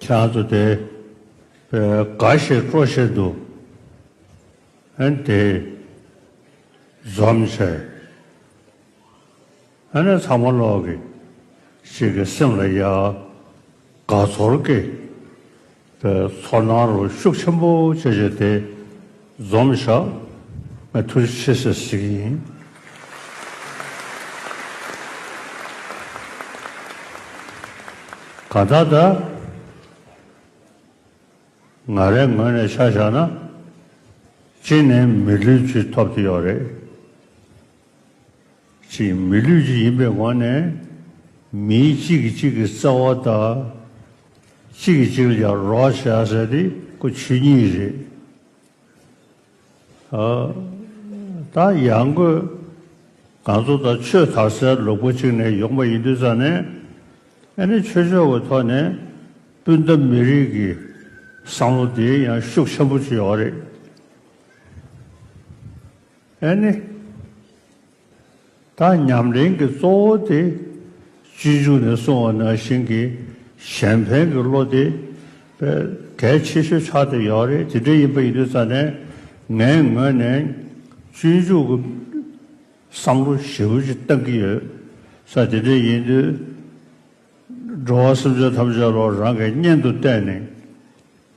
ཁྱེད་ཚོ་དེ་འགའ་ཞིག་སྤྲོ་བཞིན་འདུག་ཨན་དེ་འཛོམས་ཆེ། ཨ་ནི་ཚང་མ་ལོག་གི་ཞིག་གི་སེམས་ལ་ཡ། དགའ་ཚོར་གི་ཚོར་སྣང་རོ་ཤུགས་ཆེན་པོ་བྱེད་བྱེད་དེ། འཛོམས་བཞག་ང་ཐུགས་རྗེ་ཆེ་ཞེས་ཞུ་གི་ཡིན། གང་ལྟར་ད་ང་རའི་ངོས་ནས་ཆ་བཞག་ན་གཅིག་ནས་མི་ལུས་ཅི་ཐོབ་ཀྱི་ཡོད་རེད། ཅིག་མི་ལུས་གཅིག་ཡིན་པའི་ངང་ནས་མིའི་གཅིག་གིས་གཅིག་གི་རྩ་བ་དང། གཅིག་གིས་གཅིག་ལ་ཀྱང་རོགས་བྱ་ཟེར་དེ་སྐུ་ཆོས་ཉིད་རེད། ད་ཡང་སྒོས་གང་ཚོ་དང་ཆོས་དར་སའི་ལུག་པོ་གཅིག་ནས་ཡོང་པ་ཡིན་དུས་ཙང་ནས་ཨ་ནེ་ཆོས་ཕྱོགས་ཀྱི་ཐོག་ནས་སྤུན་ཟླ་མི་རིགས་ཀྱི་བསམ་བློ་དེ་ཡང་ཤུགས་ཆེན་པོ་བྱས་ཡོད་རེད། ཨེ་ནི། ད་ཉམས་ལེན་གྱི་གཙོ་བོ་དེ་སྤྱི་འཇུག་ནས་གསུང་བ་ན་ཞིང་གི་གཞན་ཕན་གྱི་བློ་དེ་གལ་ཆེ་ཤོས་ཆགས་ཏེ་ཡོད་རེད་དེ་འདྲ་ཡིན་པ་ཡིན་དུས་ཙང་ནས་ངས་ངོས་ནས་སྤྱི་འཇུག་གི་བསམ་བློ་ཞེ་བོ་ཅིག་བཏང་གི་ཡོད་ས་དེ་འདྲ་ཡིན་དུས། འགྲོ་བ་སེམས་ཅན་ཐམས་ཅད་ལོ་རང་གི་གཉེན་དུ་བལྟས་ནས།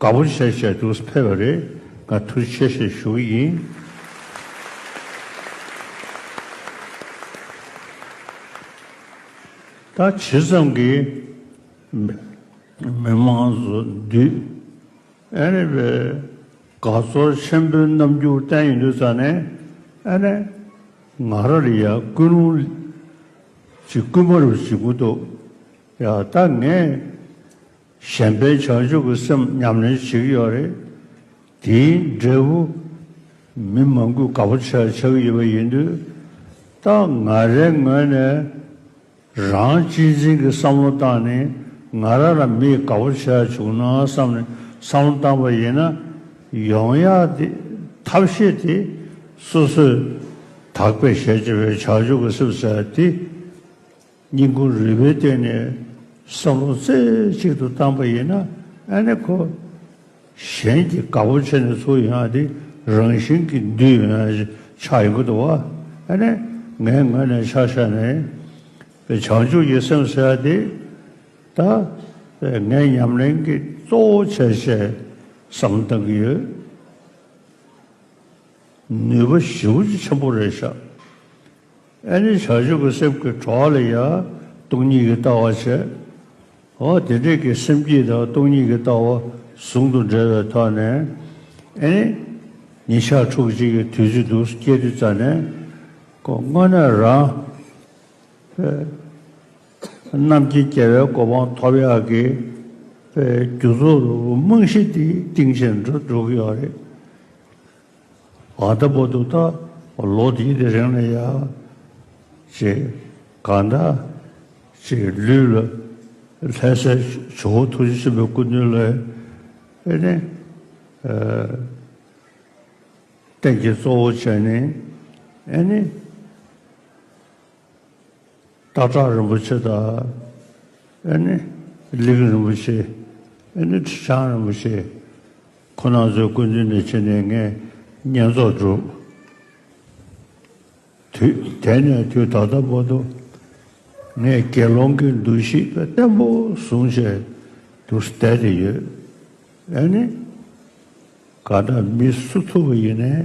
དགའ་པོ་བྱས་བྱས་འདུག་ཕེབས་པ་རེད་དགའ་ཐུག་ཆེ་ཞེས་ཞུ་གི་ཡིན། ད་ཇི་ཙམ་གྱིས་མི་དམངས་སུ་འདུས། ཨ་རེ་བས་དགའ་ཚོར་ཆེན་པོའི་རྣམ་འགྱུར་བསྟན་ཡོད་འདུག་ཙང་ནས་ཨ་རེ་ང་ར་རི་ཡ་ཀུན་རུང་ལིཅི་ཀུན་པར་བྱེད་ཀུ་འདུག་ཡ་ད་ངས་གཞན་ཕན་བྱང་ཆུབ་ཀྱི་སེམས་ཉམས་ལེན་བྱེད་ཀྱི་ཡོད་རེད། དེའི་འབྲས་བུ་མི་མང་པོས་དགའ་པོ་བྱེད་ཆགས་ཀྱི་ཡོད་པ་ཡིན་དུས། ད་ང་རའི་ངོས་ནས་རང་གཅེས་འཛིན་གྱི་བསམ་བློ་བཏང་ནས་ང་ར་ལ་མིས་དགའ་པོ་བྱས་བྱུང་ན་བསམ་ནས་བསམ་བློ་བཏང་པ་ཡིན་ན། ཡོང་ཡག་དེ་ཐབས་ཤེས་དེ་སོ་སོས་དག་པའི་ཞལ་ལྕེ་བའི་བྱང་ཆུབ་ཀྱི་སེམས་ཟེར་བ་དེ། སྙིང་ཁུངས་རིལ་པོའི་སྟེང་ནས་བསམ་བློ་རྩེ་གཅིག་ཏུ་བཏང་པ་ཡིན་ན་ཨ་ནེ་ཁོ། གཞན་གྱིས་དགའ་བོ་བྱེད་ནས་ཚུར་ཡོང་དེ་རང་བཞིན་གྱིས་འདུས་ཡོང་ན་ཆགས་ཡོང་གི་འདུག་ཨ་ནེ་ངའི་ངོས་ནས་ཆགས་ཞག་ནས་བའི་བྱང་ཆུབ་ཀྱི་སེམས་ཟེར་བ་དེ་ད་བས་ངས་ཉམས་ལེན་གྱི་གཙོ་བོ་བྱས་བྱས་བསམ་བློ་བཏང་གི་ཡོད། ནུས་པ་ཞེ་བོ་ཆེན་པོ་རེད་ཤག་ཨེ་ནི་བྱང་ཆུབ་ཀྱི་སེམས་ཀྱི་གྲོགས་ལ་ཡང་སྟོང་ཉིད་ཀྱི་ལྟ་བ་བྱེད། འོ་དེ་འདྲའི་ཀྱི་སེམས་སྐྱིད་དང་སྟོང་ཉིད་ཀྱི་ལྟ་བ་ཟུང་དུ་འབྲེལ་བའི་ཐོག་ནས་ཨེ་ནི། ཉིན་ཞག་ཕྲུགས་གཅིག་གི་དུས་ཚོད་འདུག་སྐྱེ་དུས་རྩ་ནས་གོ། དངོས་གནས་རང་རྣམས་ཀྱི་སྐྱེ་བའི་གོ་འཕང་ཐོབ་ཡག་གི་རྒྱུ་ཚོར་རྨང་གཞི་དེ་གཏིང་ཆེན་འགྲོ་འགྲོ་གི་ཡོད་རེད། བ་ལྟ་བུ་འདུག་ད་ལོ་དེའི་དེ་རིང་ལ་ཡ་ཅེས་ག་འདྲ་ཅིག་ལུས་ལ་ལྷད་སའི་ཇོ་བོ་ཐུགས་རྗེ་ཆེན་པོའི་སྐུ་མདུན་ལས་ཨེ་ནི། རྟེན་གྱི་གཙོ་བོ་བྱས་ནས་ཨེ་ནི། ཏག་ཏག་རིན་པོ་ཆེ་དང། ཨེ་ནི། ལིག་རིན་པོ་ཆེ། ཨེ་ནི། ཁྲི་བྱང་རིན་པོ་ཆེ། ཁོ་ནང་ཚོའི་སྐུ་མདུན་ནས་ཕྱི་ནས་ངས་བསྙེན་རྫོགས་བསྒྲུབས། དུས་དེ་ནས་དུས་ད་ལྟ་བར་དུ། ངས་དགེ་སློང་གི་འདུ་ཤེས་བརྟན་པོ་བཟུང་བྱས་དུ་བསྡད་དེ་ཡོད། ཨེ་ནི། ག་འདྲ་མི་སུ་ཐུབ་པ་ཡིན་ནའི།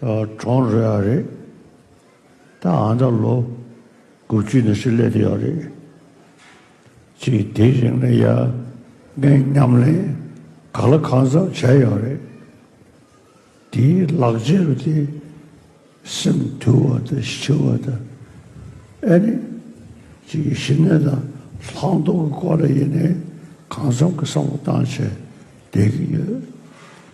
གྲོང་རོལ་བ་རེད། ད་ཨ་མདའ་ལོ་དགུ་བཅུ་ནས་ཕྱིར་སླེབས་ཀྱི་ཡོད་རེད། ཅེས་དེའི་རིང་ལ་ཡ་ངའི་ཉམས་ལེན་ག་ལ་གང་ཙམ་བྱས་ཡོད་རེད། དེའི་ལག་རྗེས་རུ་དེ་སེམས་དུལ་བ་དང་ཞི་བ་དང་ཨེ་ནི་ཅིག་གི་ཞི་གནས་དང་ལྷག་མཐོང་གི་སྐོར་ལ་ཡིན་ནའི་གང་འཚམ་གྱི་བསམ་བློ་བཏང་བྱས་བསྡད་ཀྱི་ཡོད།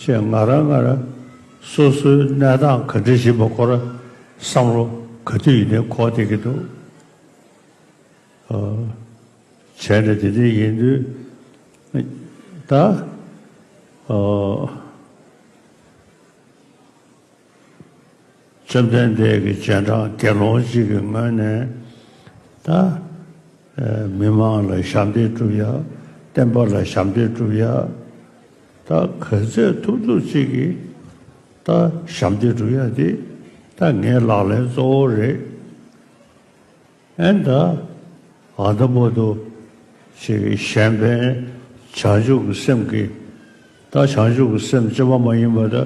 ཞེས་ང་རང་ང་རང་སོ་སོའི་གནས་སྟངས་ག་འདྲི་བཞིན་པ་སྐོར་བསམ་བློ་ག་དུས་ཡིན་ནའི་ཁོག་སྟེར་གྱི་འདུག་བྱས་ནས་དེ་འདྲའི་ཡིན་དུས་ད་བཅོམ་ལྡན་འདས་ཀྱི་སྤྱན་དྲངས་དགེ་སློང་གཅིག་གི་སྔོན་ནས་ད་མི་དམངས་ལ་ཞབས་འདེགས་བསྒྲུབ་ཡ། བསྟན་པ་ལ་ཞབས་འདེགས་བསྒྲུབ་ཡ། ད་ག་ཚད་ཐུབ་ཐུབ་གཅིག་གིས་ད་ཞབས་འདེགས་བསྒྲུབ་ཡ་འདི་ད་ངའི་ལག་ལེན་གཙོ་བོ་རེད། ཨན་ད། ཨ་ད་མོ་ཏོ། ཞེས་གཞན་ཕན་བྱང་ཆུབ་ཀྱི་སེམས་ཀྱིས། ད་བྱང་ཆུབ་ཀྱི་སེམས་སྐྱེ་བ་མ་ཡིན་པ་ད་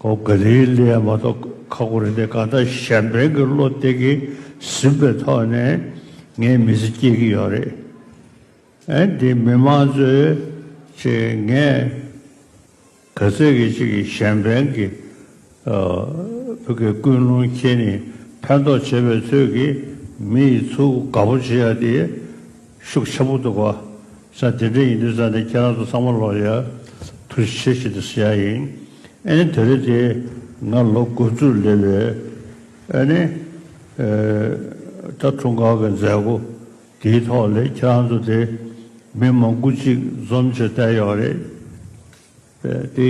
གོ་དགའ་དེའི་གླུ་ཡང་མ་གཏོགས་ཁ་སྒོ་རེ་དེ་ག་ད་གཞན་ཕན་གྱི་བློ་གཏད་ཀྱིས་ཟིན་པའི་ཐོག་ནས་ངའི་མི་ཚེ་སྐྱེལ་གྱི་ཡོད་རེད། ཨན་དེ་མི་མང་གཙོའི། ཅེས་ངས། གལ་སྲིད་ཀྱི་གཅིག་གིས་གཞན་ཕན་གྱི་བུ་གའི་ཀུན་སློང་ཁྱེད་ནི་ཕན་ཐོགས་བྱེད་པའི་ཚོད་ཀྱིས་མི་ཡི་ཚུལ་དགའ་པོ་བྱེད་ཡ་དེ་ཤུགས་ཆེན་པོ་འདུག་གོ། ས་དེ་འདྲ་ཡིན་དུས་ས་དེ་ཁྱེད་རང་ཚོ་ཚང་མ་ལོག་ཡ་དུས་ཆེ་བྱེད་དུ་ཟེར་ཡ་ཡིན། ཨེ་ནི་དེ་རེད་དེ་ང་ལོ་དགུ་བཅུར་སླེབས་པའི་ཨེ་ནི་ད་དྲུང་ཁག་གི་མཛད་སྒོ་དེའི་ཐོག་ལས་ཁྱེད་རང་ཚོ་དེ་མི་མང་དགུ་གཅིག་འཛོམས་བྱེད་བསྡད་ཡོད་རེད་དེ།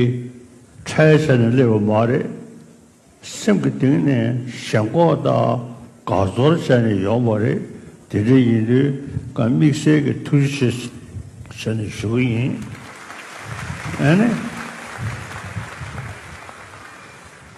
ཁྲལ་བྱས་ནས་སླེབས་པ་མ་རེད། སེམས་ཀྱི་གཏིང་ནས་ཞེན་ལྐོག་དང་དགའ་ཚོར་བྱས་ནས་ཡོང་བ་རེད། དེ་འདྲ་ཡིན་དུས་ང་དམིགས་བསལ་གྱི་ཐུགས་རྗེ་ཆེ་ཆེ་ནས་ཞུ་གི་ཡིན། ཨ་ནི།